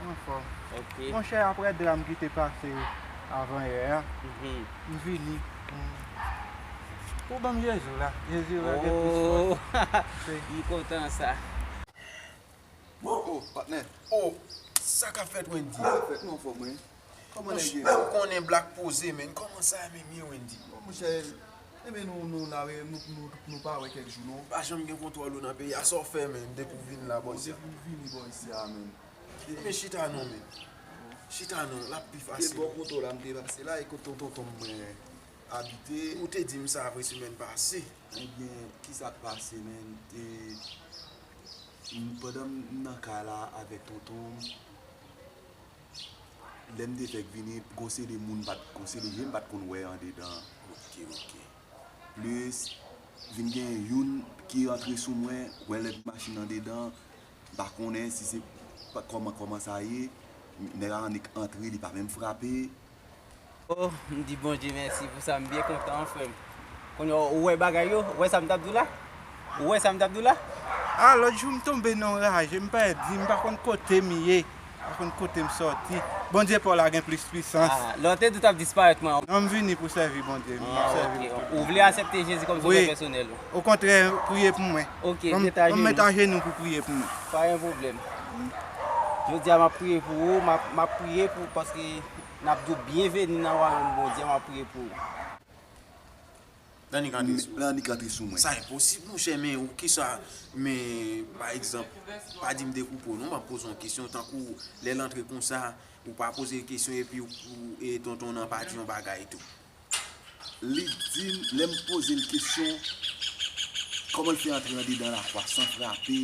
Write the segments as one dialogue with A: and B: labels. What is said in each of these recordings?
A: Mwen
B: anfòm.
A: Monchè aprè
B: dram
A: ki te pase avan yè a, m vini pou ban m Jezi la. Jezi la gen plis
B: fòs. M kontan sa. Ohh
C: patnè ohh sa kap fèt wendyy. Sa kap fèt nou anfòm wi.
D: Ou konnen black poze
C: menn. Koman sa ye menm ye Wendy. Bon monchè
D: Ebyen nou nou la wè nou pa wè kèk jou non. Pa janm gen kontwòl ou nan
C: peyi a sa w fè menn depi w vin la bò isit. Depi m vini bò
D: isit a menn. Ebyen chita
C: non menn. Chita non l ap pi fasil. Se bò koto la m te
D: pase la e kot ton tonton m mwen abite. Ou te di m sa
C: vre semèn pase. Ebyen
D: ki sa k pase menn e pandan m nan kay la avèk tonton m. Lem te fek vini gon seri moun m pat gon seri je m pat konn wè andedan ok ok plus vin gen youn ki rantre sou mwen wè led machin andedan m pa konnen si se koman koman sa ye neg la annik antre li pa menm frape. Oh
B: m di Bondye mèsi pou sa m byen kontan frè m Kounya ou wè bagay yo ou wè sa m tap di w la ou wè sa m tap di w la Ah lòt jou
A: m tonbe nan w raje m pèdi m pa konn kote m ye m pa konn kote m sòti Bondye pa w la gen plis pwisans Ah lè w te di w tap
B: disparèt mwen Non m vini pou sèvi
A: Bondye m ap sèvi l tout tan Ou vle
B: asèpte Jezi kòm sovè pèsonèl ou Okontrè
A: priye pou mwen Ok met ajenou Mèt ajenou pou priye pou mwen Pa gen pwoblèm
B: Jodi a m ap priye pou ou, m ap priye pou paske n ap di w byenveni nan wayòm Bondye a, m ap priye pou ou. Lè
C: annik antre sou mwen. Lè annik antre sou
D: mwen. Sa enposib monchè men
C: ou kisa men pa egzanp pa di m dekoupe w non m ap poze w yon kesyon tankou lè l antre konsa ou pa poze l kesyon epi tonton nan pa di yon bagay tou. li
D: di m, lè m poze l kesyon, kòman l fè antre andedan Lafwa san frape,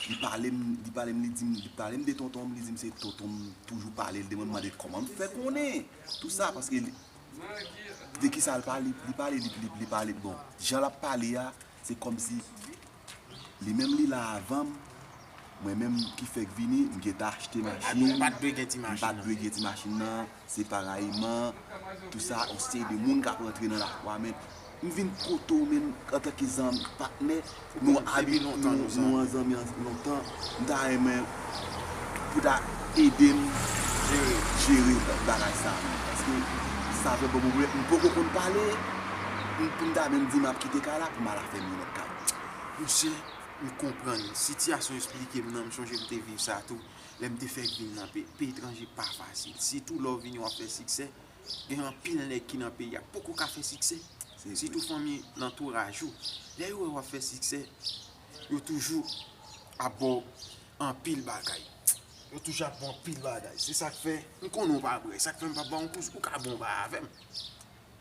D: li pale m, li pale m, li di m, li pale m de tonton m, li di m se tonton m toujou pale l de mwen, m mande kòman m fè konnen tou sa, paske de ki sa l pale, li pale, li pale, bon, jan l ap pale a, se kòmsi. Li menm li la avanm, mwen menm ki fèk vini, m gentan achte machin, m pat
C: dwe gen ti machin nan,
D: se parayman, tout sa yon seri de moun kap rantre nan lakwa men, m vin kote w menm antanke zanmi, patnè, nou abi lontan, nou an zanmi lontan, m ta renmen pou ta ede m jere bagay sa menm, paske sa vle bon pou mwen, m poko konn pale, pou m ta menm di map kite kay la pou m al afè m. Gad Misye
C: m konprann sitiyasyon esplike m nan m sonje m te viv sa tou lè m te fèk vin nan peyi peyi etranje pa fasil sitou lè w vini wap fè siksè gen anpil nèg ki nan peyi a poko ka fè siksè sitou fanmi lantouraj ou lè yo wè wap fè siksè yo toujou ap ba w anpil bagay yo toujou ap ba w anpil bagay se sak fè m konnen w pa brè sak fè m pa ba w yon kous ou ka bon ba avè m.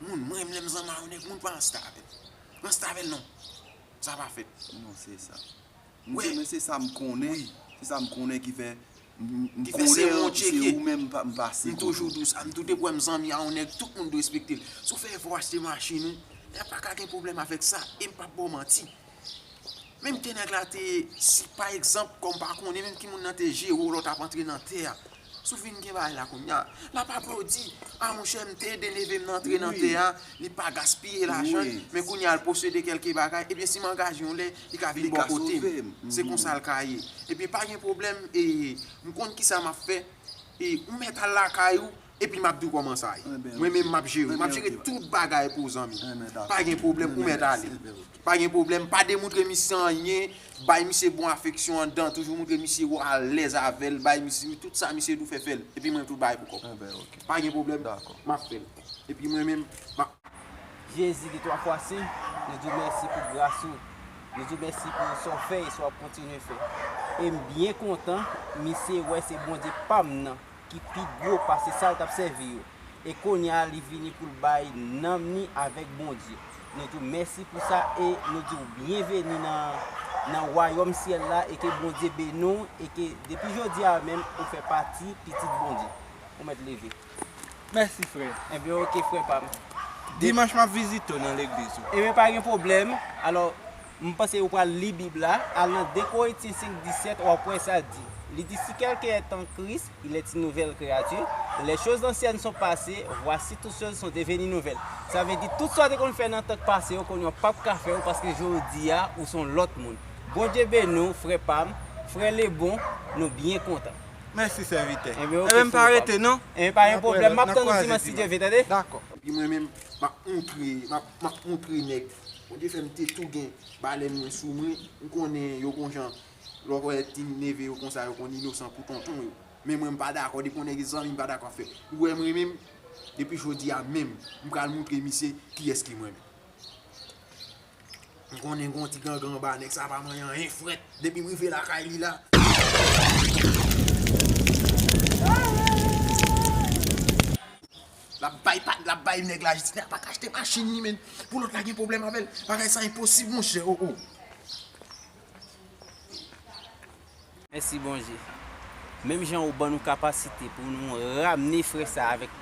C: Moun mwen renmn lèm zanma yo nèg moun pa ansta avèm ansta avèl non sa pa fèt non se sa
D: wi men se
C: sa m konnen
D: wi se sa m konnen
C: ki fè
D: m konnen
C: an se ou menm m pa
D: pase
C: m
D: toujou dous a m tou depi
C: w wèm zanmi a yon nèg tout moun dwe respekte l si w fè efò achte machin ou e paka gen pwoblèm avèk sa e m pap ba w manti Menm ke nèg la te, si pa egzanp, kòm pa konnen menm ki moun nan te jere w lè w t ap antre nan tè a, si w fin gen bagay la kounye a, l ap aple w di, a monchè m te ede neve m nan antre nan tè a, li pa gaspiye lajan l, men kounye a l posede kèlke bagay, ebyen si m angaje yon lè, li ka vin bò kote m. Se konsa l ka ye. Ebyen pa gen pwoblèm, m konn kisa m ap fè, ou mèt al lakay ou, Epi map diw koman sa ye. Mwen menm map jere. Map jere tout bagay pou w zanmi. Pa gen pwoblèm ou mèt ale. Pa gen pwoblèm. Pa demoutre misye anyen. Bay misye bon afeksyon andan. Toujou moutre misye ou alèz avèl. Bay misye tout sa misye di w fè fèl. Epi mwen tou bay pou kòm. Pa gen pwoblèm. Map fèl. Epi mwen menm map.
B: Jezi di 3 fwa si. Nou diw mèsi pou gras ou. Nou diw mèsi pou sa w fè e sa wap kontinye fè. Em byen kontan misye wè se Bondye pam nan. ki pi gwo pase sa l t ap sèvi yo, e kounye a li vini pou l bay nanm ni avèk Bondye. Nou di w mèsi pou sa e nou di w byenveni nan wayòm syèl la e ke Bondye beni w e ke depi jodi a menm ou fè pati pitit Bondye. Ou mèt leve. Mèsi
A: frè. Enben ok frè pa
B: m. Dimanch m ap
A: vizite w nan legliz ou. Enben pa gen pwoblèm.
B: Alò. M panse ou pral li Bib la, al nan 2 Korinthien 5, 17, w'ap wè sa di. Li di si quelqu'un est en Christ, il est une nouvelle créature, les choses anciennes sont passées, voici toutes choses sont devenues nouvelles. Sa vle di tout sa w te konn fè nan tan k pase yo kounye a w pap ka fè yo paske jodi a ou son lòt moun. Bondye beni w frè pam, frè Lebon, nou byen kontan. Mèsi sèvitè.
A: Enben ok m pa rete
B: non.
A: Enben pa gen pwoblèm, map
B: tann ou dimanch si Dye vle tande. Dakò. Epi mwen menm
C: map moutre map moutre nèg Ou te fè m te tou gen balèn mwen sou mwen, m konnen yo gon jan lè w wè ti neve yo konsa yo konn inosan pou tonton yo. Men mwen m pa dakò depi yon nèg e zanmi m pa dakò ap fè ou wè m renmen m depi jodi a menm m pral moutre misye kiyès ki mwen. M konnen gon ti gangan anba nèg sa pa manyen anyen frèt depi m rive lakay li la. Lap bay pat lap bay nèg la jistis nèg la paka achte machin li menn pou lòt la gen problèm avèl bagay sa enposib monchè oh oh.
B: Mèsi Bondye. Menm jan ou ban nou kapasite pou nou ramne frè sa a avèk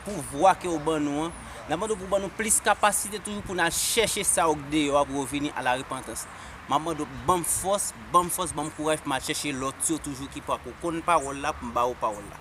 B: pouvwa ke ou ban nou an, n ap mande ou pou ban nou plis kapasite toujou pou n al chèche sa yo k deyò a pou yo vini a la repantans. M ap mande ou pou ban m fòs, ban m fòs, ban m kouraj pou m al chèche lòt yo toujou ki pako konn pawòl la pou m ba yo pawòl la.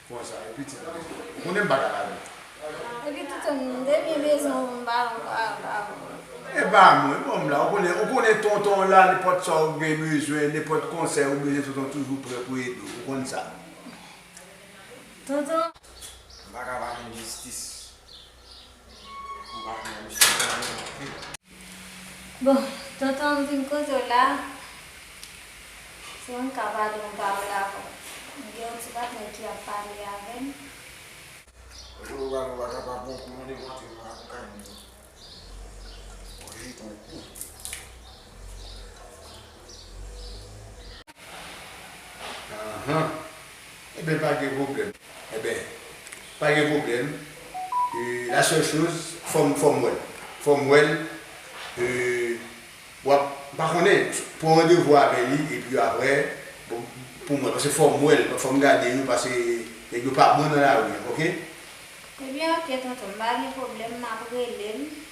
E: Konsa e pitit mwen. Ou konnen m pa ka lavi.
F: Epi
E: kite
F: m depi
E: bezwen w m pa m pa pa w. E pa mwen bon m la ou konnen ou konnen tonton w la nenpòt sa ou gen bezwen nenpòt konsèy ou bezwen tonton toujou prè pou ede w ou konn sa. Tonton.
C: M pa ka pa konn jistis.
F: Bon tonton m vin koze w la si m ka pale yon pawòl avè w m gen yon ti patnè ki ap pale
C: avè m
E: Ahan Eben pa gen pwoblèm Eben pa gen pwoblèm euh la seule chose fòm fòm wèl fòm wèl euh wap m pa konnen pran randevou avè li epi aprè poum wèl paske fòm wèl fòm gade yo pase nèg yo pa bon nan lari ok. Ebyen ok tonton m pa gen pwoblèm
G: map relel.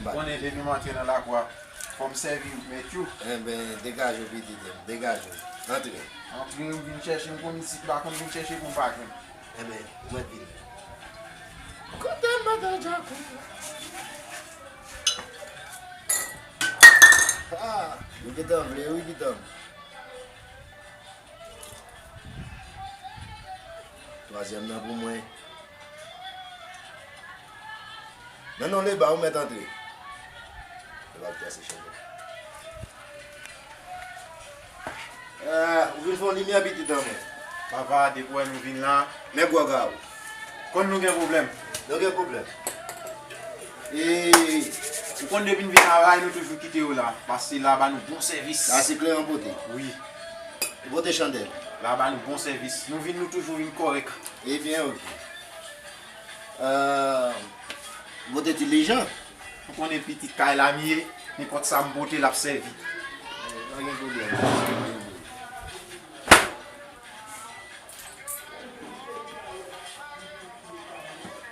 D: M konnen depi
C: m antre nan lakwa fò m sèvi w mèt yo. Enben, degaje
D: w pitit m, degaje w. Antre. Antre, ou vin
C: chèche m konn isit la, konn vin chèche pou m pa jwenn. Enben,
D: mwen t vini. Koute m madan Djakou. Ha! Yo gen tan vle wi pitanm. Twazyèm nan pou mwen. Nan non Leba ou mèt antre. Leba ap trase chèn yo. Ou vin fon limyè pitit an mwen. Papa depi ou
C: wè nou vin la. Men gwòg a ou.
D: Konn nou gen
C: pwoblèm. Nou gen pwoblèm.
D: Eeii.
C: Ou konn depi n vin la ray nou toujou kite yo la. Pase la ba nou bon sèvis. Sa se kle an pote.
D: Wi.
C: Vote
D: chandèl. La ba nou bon sèvis.
C: Nou vin nou toujou vin kòrèk. E byen ok.
D: Vote dilijan. Ou konnen
C: pitit kay la m ye. Nenpòt sa m pote l ap sèvi. Pa gen
D: pwoblèm.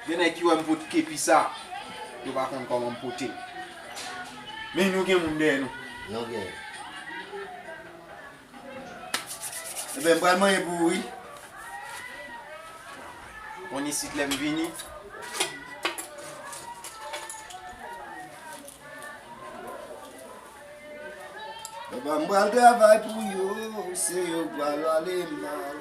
C: Gen nèg ki wèm pot kepi sa, yo pa konn kòman m pote l. Men nou gen moun dèyè nou. Nou
D: gen. Ebyen m pral manye pou ou wi.
C: Konn isit lè m vini.
D: Papa m pral travay pou yo, se yo k pral ale mal.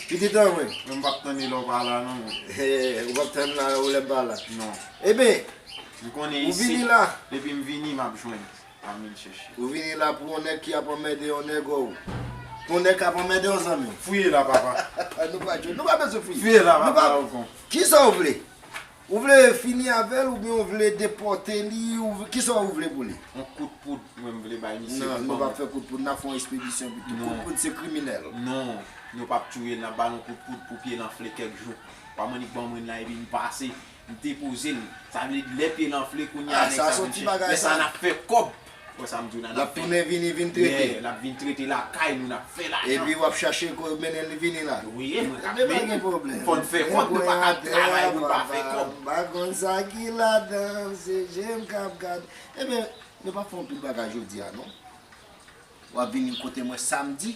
D: Li gen tan vre? Mwen m pap tann li lè w pa
C: la non. Ou pap tann
D: la ou lè m pa la? Non.
C: Eben,
D: ou
C: vini la.
D: Depi
C: m vini
D: m ap
C: jwenn. M ap vin chèche. Ou vini la pou yon nèg
D: ki ap anmède yon nègo. Pou yon nèg k ap anmède w zanmi. Fouye la papa.
C: Nou pa jwe. Nou pa
D: bezwen fouye. Fouye la papa. Kisa
C: w vle?
D: Ou vle fini avèl oubyen ou vle depòte li ou vle kisa ou vle pou li? Yon kout poud
C: mwen m vle bay misye pou banm. Non nou pap fè kout poud nap
D: fè yon espedisyon pito kout poud se kriminèl. Non nou
C: pap touyel nap bal yon kout poud pou pyel anfle kèk jou pam annik banm ren la epi m pase m depozel sa vle di lè pyel anfle kounya nèg sa vin chèch lè
D: sa nap fè kòb.
C: Wè sa m di w nana fè. L ap tounen vini vin
D: trete. L ap vin trete lakay
C: nou n ap fè lajan. Epi w ap chache kob
D: mennen l vini la. Wi e mwen k ap mennen. Gen pa
C: gen pwoblèm.
D: Fò n fè kòb nou pa
C: ka travay pou n pa fè kòb. M pa konn sa ki
D: ladan l se je m k ap gade. Ebyen nou pa fè yon pil bagay jodi a non. W ap vini kote mwen samdi.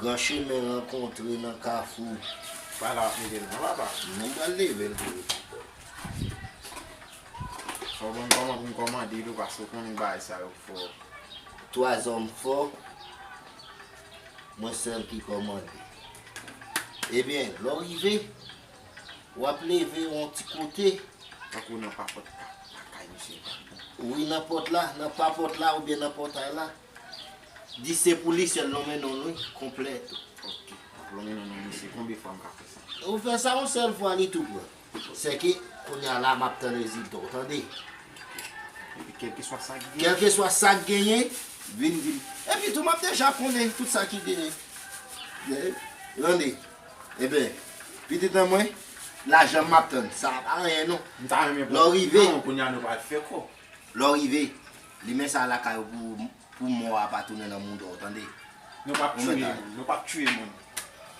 H: Gran chemen rankontre nan kafou. Sa la ap
C: mete nan papa. Mwen pral leve l
H: pou ou.
C: Fò w ban m kòman pou m kòmande tou paske w konnen bagay sa yo fò. Twa
H: zòm fò, mwen sèl ki kòmande. Ebyen, lè w rive. Wap leve yon ti kote. Tankou nan
C: papòt kay misye pa bon. Wi nan
H: pòt la, nan papòt la oubyen nan pòtay la. Di se pou li sèl lonmen non wi, konplè tou. Ok, wap
C: lonmen non non misye, konbyen fwa m ka fè sa? Ou fè sa yon sèl fwa
H: li tou pran. Sèke kounya la map tann rezilta w tande. Ok,
C: epi kèlkeswa sa ki genyen. Kèlkeswa sa ki genyen,
H: vin vin. Epi tou map deja konnen tout sa ki genyen. Tande. Eben, pitit an mwen, lajan m ap tann, sa a pa anyen non. M ta renmen pran pitit lan men kounya nou pral
C: fè kò. Lè w rive,
H: limen sa a lakay ou pou mò a pa tounen nan mouda w tande. Nou p ap tiye
C: moun, nou p ap tiye moun.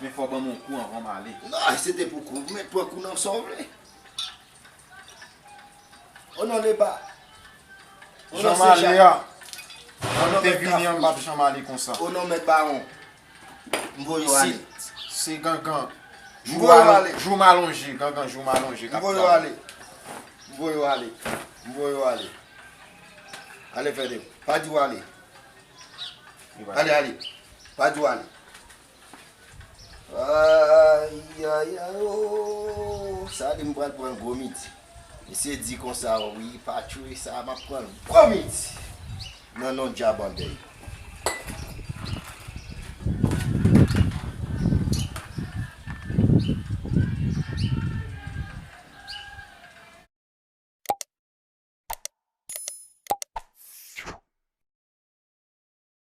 C: Men fò w ban m yon kou anvan m ale. Nan, se te pou kou,
H: men pran kou nan sa w vle. O non de ba. O non se ja.
C: O non de vini an bab janm ale konsa. O non met baron.
H: M voye w ale. Se gangan.
C: M voye w ale.
H: Jou m alonje. Gangan
C: jou m alonje. M voye w ale.
H: M voye w ale. M voye w ale. Ale fede. Pa di w ale. Ale ale. Pa di w ale. Ayayay ooh sa li m pral pran gwo midi misye di konsa wi pa tchwe sa map pran gwo midi nan non djab andèy.